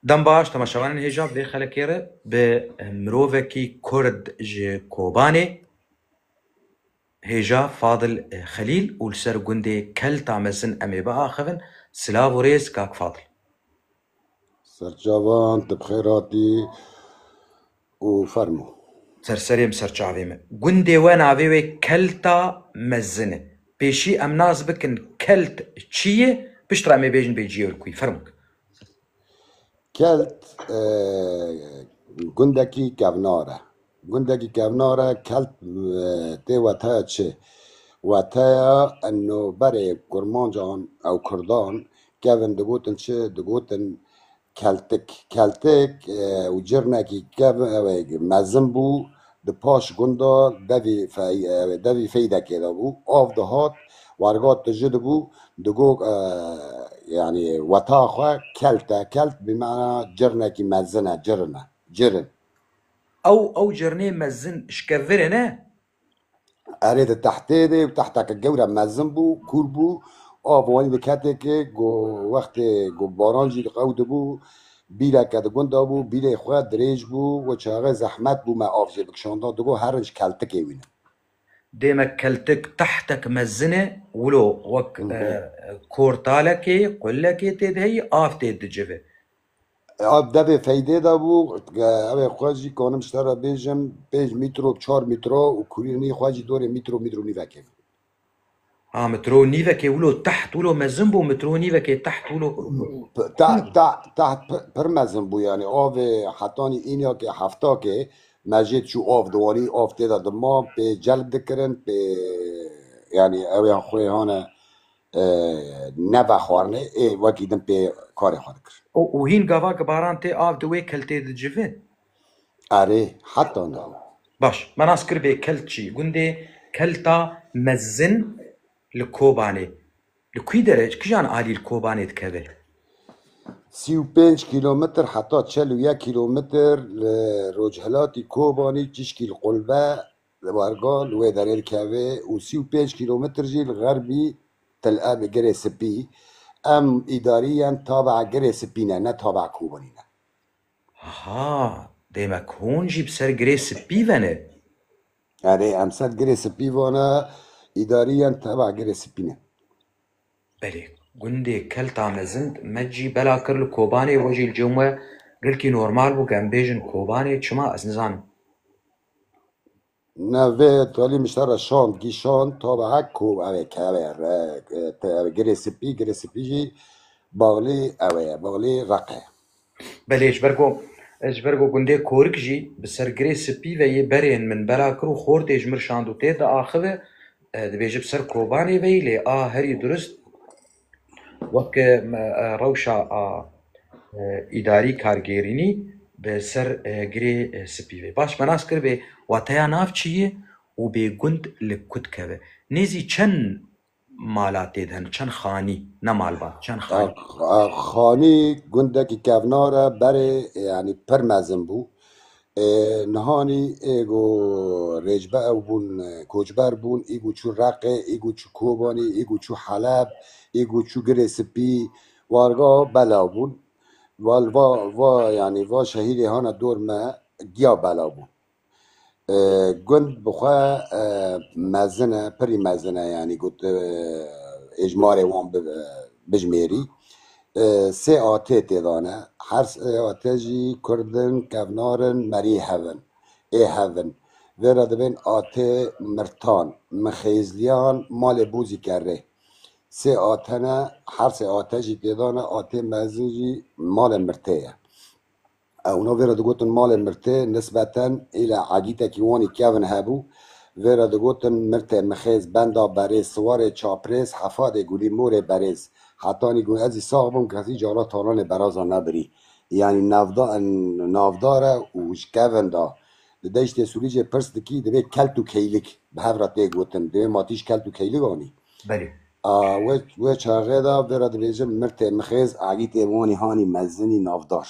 Dem baş temaşevanên hêja vê xelekê re bi mirovekî kurd ji Kobanê hêja Fadil Xelîl û li ser gundê Kelta Mezin em ê biaxivin. Silav û rêz kak Fadil. Serçavan, tu bi xêr hatî. û fermo. Ser serê min ser çavê min. Gundê we navê wê Kelta Mezin e. Pêşî em nas bikin Kelt çi ye, piştre em ê bêjin bê ciyê Urkuyê. Fermo. Kelt gundekî kevnar e. Gundekî kevnar e. Kelt tê weteya çi? Weteya noberê kurmancan û kurdan kevin digotin çi? Digotin Keltik, Keltik û cirnekî kevnewek mezin bû, di paş gunda devî devî feydekê de bû. Av dihat, warga tiji dibû, digot yanî weta xwe kelt e. Kelt bi mana cirnekî mezin e, cirin e, cirin. Ew ew cirnê mezin şkevirine Erê di tehtê de û tehteke gewre mezin bû, kûr bû. Av wanî di ketêkê ku wextê ku baran jî diqewdibû. Bîreke di gund de bû, bîrê xwe dirêj bû. We çaxê zehmet bû me av jê bikişanda. Di got herinc keltikê wî ne. Dême keltik tehtek mezin e, wilo wek kortalekê, qulekê tê de heyî, av tê dicive. Ev devê feydê de bû evê xwe jî kanim ji te re bêjim pênc mîtro çar mîtro û kurînî xwe jî dorê mîtro mîtro nîvekê bû. Ha mitro û nîvekê wilo teht wilo mezin bû mitro û nîvekê teht wilo teht pir mezin bû yanî avê hetanî înakê heftakê me jê çû av diwanî av tê de dima pê celb dikirin pê yanî ewê xwê hane Nava xwarinê ê wekî din pê karê xwe dikir. Û hîn gava ki baran tê av di wê keltê di civi? Erê, heta niha. Baş, me nas kir vê kelt çi? Gundê Kelta Mezin li Kobanê. Li kî dere, ji kijan alî li Kobanê dikeve? Sî û pênc kîlometr heta çel û yek kîlometr li rojhilatî Kobanî çişkî li Qulbe Li Wargo li wê derê dikeve û sî û pênc kîlometr jî li xerbî Tel Ebê Girê Sipî. Em îdarîyên tabe'a Girê Sipî ne, ne tabe'a Kobanî ne. Aha, demek hûn jî bi ser Girê Sipî ve ne? Erê, em ser Girê Sipî ve ne, îdarîyên tabe'a Girê Sipî ne. Belê, gundê Kelta Mezin me cî bela kir li Kobanê, we jî li cem we gilkî normal bû ku em bêjin Kobanê, çima ez nizanim. Navê Talî min ji te re şand, gîşand, tabe hek ku ev ê ke ev ê re te ev ê girê spî, girê spî jî Baxlî ew ê, Baxlî Req e. Belê, ji ber ku ez ji ber ku gundê Korik jî bi ser girê spî ve yê berên min bela kir û xortê ji min şand û tê diaxive, dibêje bi ser Kobanê ve yî lê a herî durist, Wek rewşa îdarî kargêrînî bi ser girê spî ve. Baş me nas kiribê wateya nav çi ye û bê gund li ku dikeve. Nêzî çend mala tê de hene, çend xanî, ne malbat, çend xanî? Xanî gundekî kevnar e, berê yanî pir mezin bû. Nihanî ê ku rêcbe ew bûn koçber bûn, ê ku çû Reqê, ê ku çû Kobanî, ê ku çû Heleb, ê ku çû Girê Spî, warga belav bûn. Va li va va yanî va şehîrê hane dor me giya belav bûn. Gund bi xwe mezin e, pirî mezin e yanî ku tu êjmarê wan bijimêrî. Sê atê tê dane. Her sê atê jî kurd in, kevnar in, merî hev in. Ê hev in. Vê re dibên atê mirtan, mixêzliyan, malê bûzî ke rê. Sê ate ne, her sê ate jî tê dane, atê mezin jî malê mirtê ye. Ew no vê re digotin malê mirtê, nisbeten île egîtekî wanî kevn hebû. Vê re digotin mirtê, mixêz, benda, berêz, siwarê, çaprêz, hefadê, gulî, morê, berêz. Hetanî gun ez î sax bûm kesî cara talanê berazan nebirî. Yanî navda navda re û ji kevn da. Di deştê Sûlîcê pirs dikî divê kelt û keylik bi hev re tê gotin. Divê ma tîj kelt û keylik anî. Belê. A wê çaxê de vê re dibêjim mirtê mixêz Elî tê wanî hanî mezinî navdar.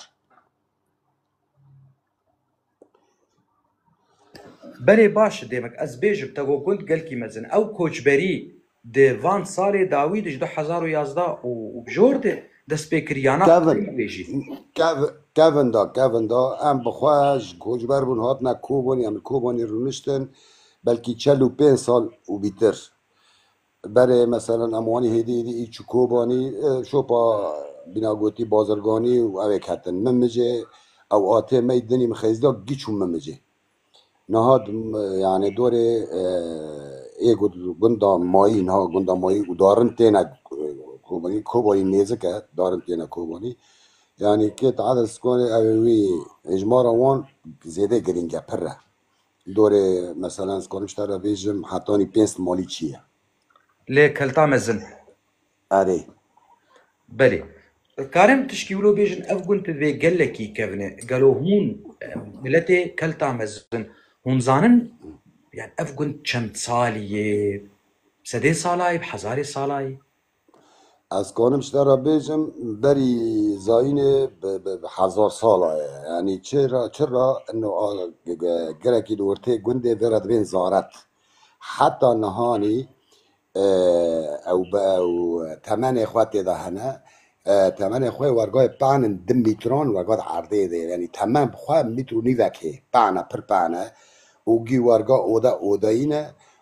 Belê baş demek ez bêjim te go gund gelkî mezin. Ew koçberî di van salê dawî di ji du hezar û yazdeh û bijor de dest pê kir yana Kevin. wê jî. Kev, Kevin da, Kevin da em bi xwe ji koçber bûn hatine Kobanî em li Kobanî rûniştin belkî çel û pênc sal û bîtir. Berê meselan em wanî hêdî hêdî î çi Kobanî şopa bîna gotî bazirganî û ewê ketin. Min mijê ew atê mey dinî min xêz da gî çûm min mijê. Niha yanê dorê ê gunda mayî niha gunda mayî û darin têne Kobanî Kobanî nêzik e darin têne Kobanî. Yanî kê taze sikonê ewê wî hêjmara wan zêde girîng e pirr e. Dorê meselen ez karim ji te re bêjim hetanî pênc simalî çi ye? Lê kelta mezin. Erê. Belê. Karim tişkî wilo bêjin ev gund bi vê gelekî kevin e. Gelo hûn miletê kelta mezin hûn zanin yan ev gund çend salî yê? Sedê sala yê bi hezarê sala yê? Ez kanim ji te re bêjim berî zayînê bi hezar sala ye. Yanî çi ra çi ra ino a girekî li ortê gundê vê re dibên zaret. Heta nihanî ew bi ew temenê xwe tê de hene. Temenê xwe yê wergayê pan in du mîtran werga di erdê de yê. Yanî temen bi xwe mîtr û nîvek hê. Pan e pir pan e û gî werga oda odayîn e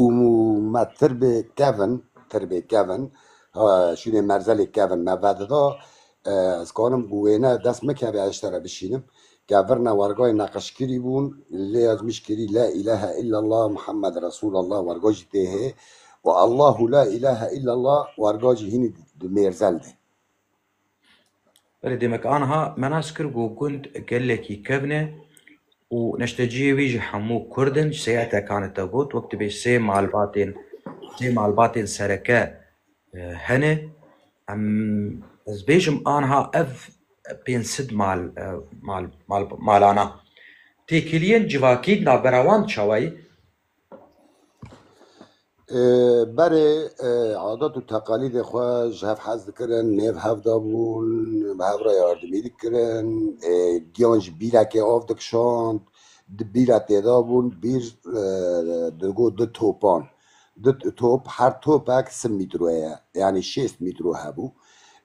û me tirbê kevin tirbê kevin şûnê merzelê kevin me vedida ez kanim bi wêne dest mikeve ez ji te re bişînim ke virna wergayê neqişkirî bûn lê ez mişkirî la îlehe îllellah Muhammed Resûlellah werga jî tê hê û Allahu la îlehe îllellah werga jî hînî di mêrzel de. Belê demek anha menas kir ku gund gelekî kevn e û neşteciyê wî ji hemû kurd in ji seyatekan e te got wek tu bê sê malbatên sê malbatên sereke hene em ez bêjim anha ev pênc sid mal mal malana têkiliyên civakî navbera wan çawa ye? Berê adet û teqalîdê xwe ji hev hez dikirin, nêv hev dabûn, bi hev re yardimî dikirin, giyan ji bîrekê av dikişand, di bîra têdabûn, bîr digot du topan. Du top, her topek sim mîtro ye, yanî şêst mîtro hebû.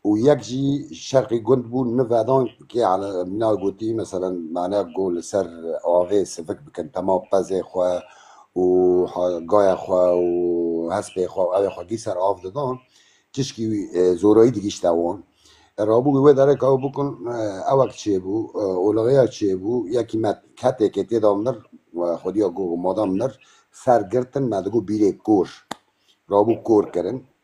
û yek jî ji şerqî gund bû nivedan kê ala mîna gotî meselen mane go li ser avê sivik bikin tema pezê xwe û gaya xwe û hespê xwe û evê xwe gî ser av didan tişkî zorayî digîşte wan rabû wê derê ka ew bikin ewek çêbû olixeya çêbû yekî me ketêkê têda mir xwediya go madan mir ser girtin me digo bîrê kor rabû kor kirin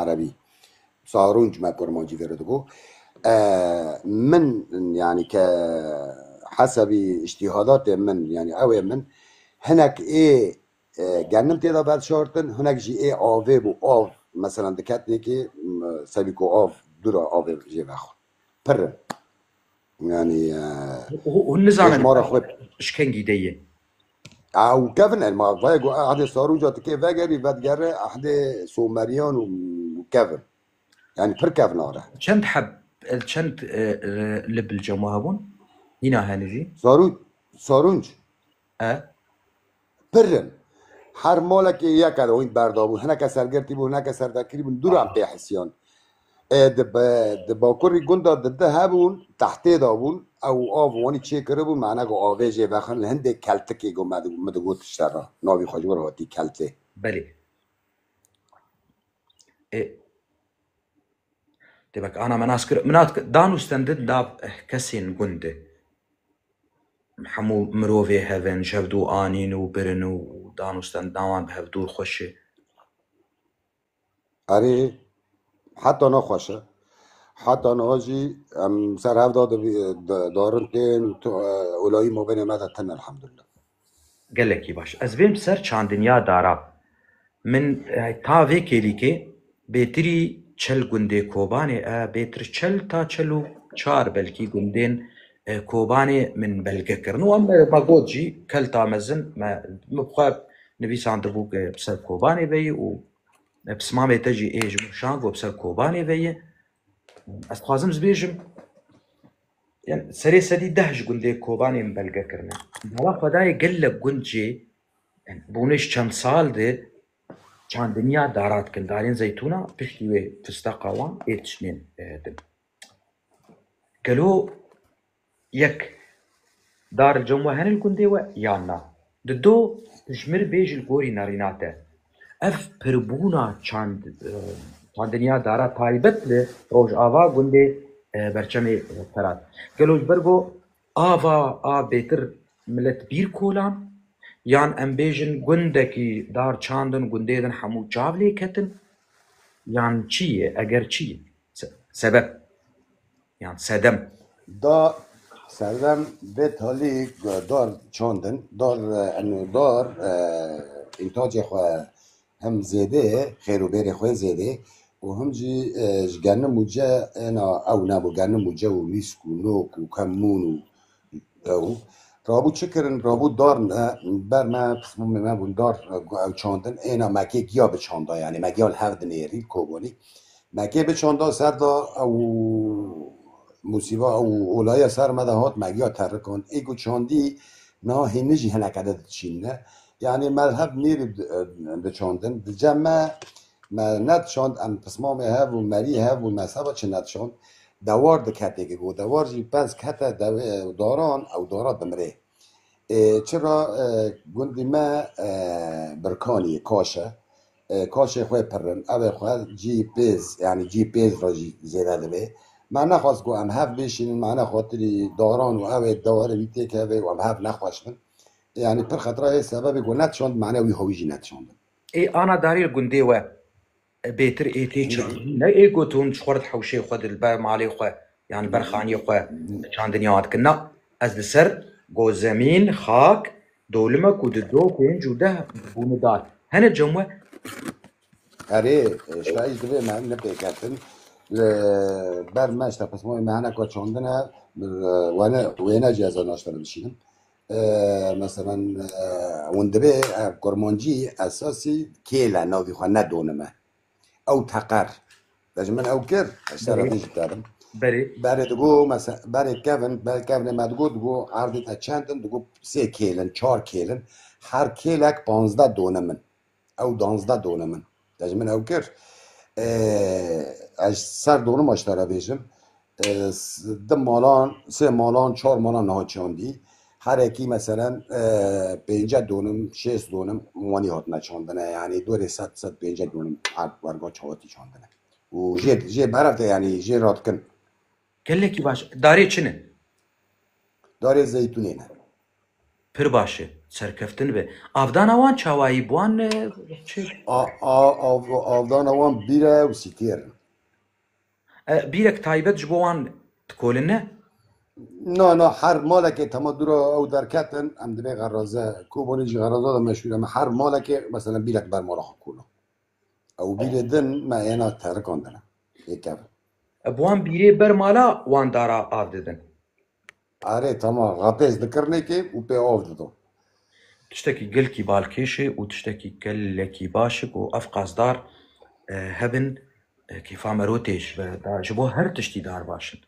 Erebî zarûnc me kurmancî vê re dibû. Min yanî ke hesebî îştîhadatê min yanî ew ê min hinek ê gennim têda veşartin hinek jî ê avê bû av meselan diketnê kê sebî ku av dûra avê jê vexwe pir in yanî hûn nizanin mara xwe ji kengî de ye Ew kevin e ma vayê ku ehdê saroca ti kê vegerî vedigere ehdê someriyan û kevin. Yani pir kevin are. Çend heb çend li bilcama hebûn? Nîna hene jî? Sarû sarûnc. E pir in. Her malekê yek e hûn berdabûn. Hineke sergirtî bûn, hineke servekirî bûn. Dûran pê hisiyan. Di bakurî gunda di di hebûn tehtê de bûn ew av wanî çêkiribûn mana ku avê jê vexin li hindê keltikê ku me min digot tişte re navî xwe ji wir hatî keltê. Belê. Ê Dê bak ana me nas kir min hat dan û stendin da kesên gund de hemû mirovê hevin ji hev dû anîn û birin û dan û stendina wan bi hev dûr xweş e. Erê, heta niha xweş e. Heta niha jî em ser hev da darin tên û tu olayî mabênê me de tin e elhamdulillah. Gelekî baş. Ez bên bi ser çandinya dara. Min ta vê kêlîkê bêtirî çel gundê Kobanê e, bêtir çel ta çel û çar belkî gundên Kobanê min belge kirin û em me got jî kelta mezin me bi xwe Nivîsandibû ke bi ser Kobanê ve yê û bi simamê te jî ê ji min şand got bi ser Kobanê ve yê. Ez dixwazim ji bêjim yan serê sedî deh ji gundê Kobanê min belge kirine. Mala xwe dayê gelek gund jê bûne ji çend sal de çandiniya dara dikin. Darên zeytûna piştî wê fisteqa wan ê tişnên din. Gelo Yek, Dar il cem we hene li gundê we yan na? Di do, Pişmir bê ji li gorî nerîna te. Ev pirbûna çand çandiniya dara taybet li rojava gundê berçemê Ferat. Gelo ji ber go ava a bêtir milet bîr kolan yan em bêjin gundekî dar çandin gundê din hemû çav lê ketin yan çi yê eger çi? Sebep yan sedem. Da sedem bê talî dar çandin dar eno dar întacê xwe hem zêdê ye xêr û bêrê xwe zêdê û him jî ji genim û ce ena ew ne bo genim û ce û wîsk û nok û kemûn û Ew rabû çi kirin? Rabû dar me ber me pisbûmê me bûn dar ew çandin êna mekê giya bi çanda yanî me giya li hev dinêrî kobonî mekê bi çanda ser da ew musîba ew olaya ser me de hat me giya terikand ê ku çandî niha hînî jî hineke de diçînne yanî me li hev dinêrî diçandin di cem me Me nediçand, em pismamê hev û merî hev û mezheba çi nediçand. Dewar di ketê ke go dewar jî pez kete dewê daran ew dara dimirê. Ê çira gundî me Birkaniyê kaş e. Kaşê xwe pirrin evê xwe cî pêz yanî cî pêz re jî zêde divê. Me nexwest ku em hev bêşînin mane xatirî daran û evê dewere wî têkeve û em hev nexweş bin. Yanî pir xetira hê sebebê ku nediçand mane wî hewî jî nediçandin. Ê ana darî li gundê we bêtir ê tê Na, çandinî ne ê got hûn ji xwe re di hewşê xwe di li ber malê xwe yan li ber na, xaniyê xwe na, çandinî wan dikin. Na, ez li ser gozemîn, xak, dolimek û di do pênc û deh bûne dar. Hene cem we? Erê, şayî ji divê me nepêketin. Li ber me ji tepismoyê me hene ku çandine, wene wêne jî ez ê naştene bişînim. Meselan hûn divê kurmancî esasî kêle navî xwe nedonime. Ew teqer de ji min ew kir ez şere vê jî kerim. Berê berê digo mese berê kevin berê kevinê me digo digo erdê te çend in digo sê kêlin çar kêlin her kêlek panzde donimin. Ew danzde done min de ji min ew kir. Ez ser donima ji te re bêjim. Du malan, sê malan, çar malan niha çandî. Herekî meselen pênce donim, şêst donim wanî hatine çandine. Yanî dorê sed, sed pêncek donim her werga çawatî çandine. Û jê jê berev de yanî jê re dikin. Gelekî baş. Darê çi ne? Darê zeytûnê ne. Pir baş e. Serkeftin be. Avdana wan çawayî bi wan çi? A, a, av, avdana wan bîre û sîtêr in. E, bîrek taybet ji bo wan dikolin ne? Na, na, her malekê tema dûra ew derketin, em divê xeraze, Kobanî jî xeraza de meşhûr e, me her malekê meselen bîrek ber mala xwe kola. Ew bîrê din me êna terikan dine. Ê kevin. E, bi wan bîrê ber mala wan dara av didin. Arê tamam rapêz dikir nêkê û pê av dido. Tiştekî gelkî balkêş e û tiştekî gelekî baş e ku ev qasdar hebin kêfa me ro têj be. Da ji bo her tiştî dar baş in.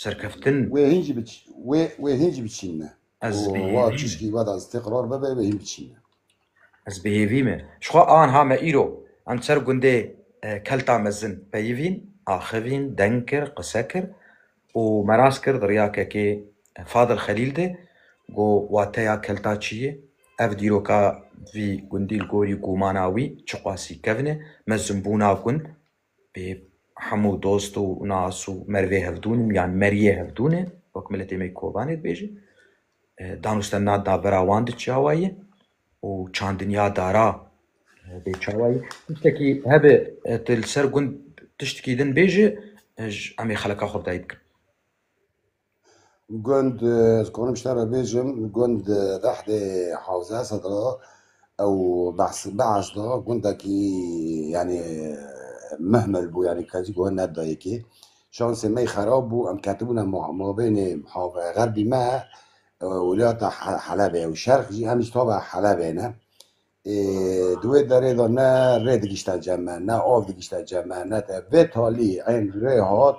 Serkeftin. Wê hîn jî biç wê wê hîn jî biçîn ne. Ez Ku bêhêvî wa me. çişkî we da zitê qirar bebe wê hîn biçîn ne. Ez bêhêvî me. Ji xwe an ha me îro em ser gundê Kelta Mezin peyivîn, axivîn, deng kir, qise kir Û me rast kir di riyakekê Fadil Xelîl de got wateya kelta çi ye, ev dîroka vî gundî li gorî gûmana wî çiqasî kevn e, me zimbûna gund bê hemû dost û nas û merivê hevdûn yan meriyê hevdûn e wek miletê me Kobanê dibêjin. Danûstenda dabera wan di çawa ye û çandinya dara bê çawa ye. Tiştekî hebe tu li ser gund tiştekî din bêje em ê xeleka xwe bi dayî bikin. Gund ez konim ji te re bêjim gund Rehdê Hewze Esed re ew behs da gundekî yanî mihmil bû yanî kesî guh nedida yekê Şansê me xerab bû, em ketibûne mabênê xerbî me û welata Helebê û Şerq jî, em ji tava Helebê ne. Ê di wê derê de ne rê digişte cem me, ne av digişte cem me, ne te. Vê talî ên rê hat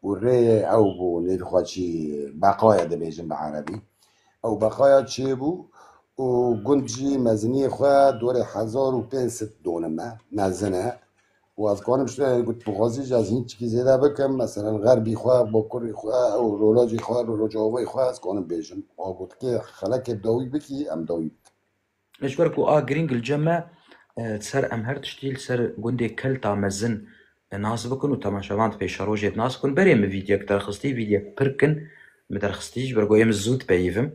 û rê ew bû nêrî xwe çî beqaye dibêjin bi erebî. Ew beqaya çêbû û gund jî meziniyê xwe dorê hezar û pênc sed dûnime mezin e. û ez karim ji te got tu xwezî ji ez hînçikî zêde bikim meselen xerbî xwe bokurî xwe ew rolajî xwe roloca wê xwe ez karim bêjim a got kê xelekê dawî bikî em dawî bikin. Lê ji ber ku a girîng li cem e di ser em her tiştî li ser gundê kelta mezin nas bikin û temaşevan di pêşerojê de nas bikin berê min vîdyek derxistî vîdyek pir kin min derxistî ji ber ku ê min zû dipeyivim.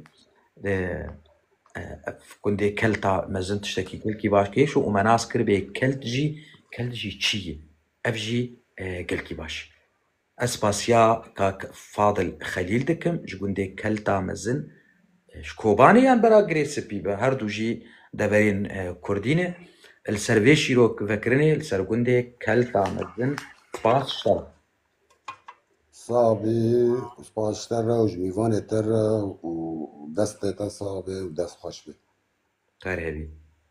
Ev gundê kelta mezin tiştekî gelkî baş kêş û me nas kir bê kelt jî kelt jî çî ye. Ev jî gelkî baş. Ez spasiya kak Fadil Xelîl dikim ji gundê kelta mezin ji Kobanê yan bera Girê Sipî be her du jî deverên Kurdî ne. Li ser vê şîrok vekirinê li ser gundê kelta mezin spas şer. Sabi spas te re û ji mîvanê te re û destê te sabi û dest xweş be. Xêr hebî.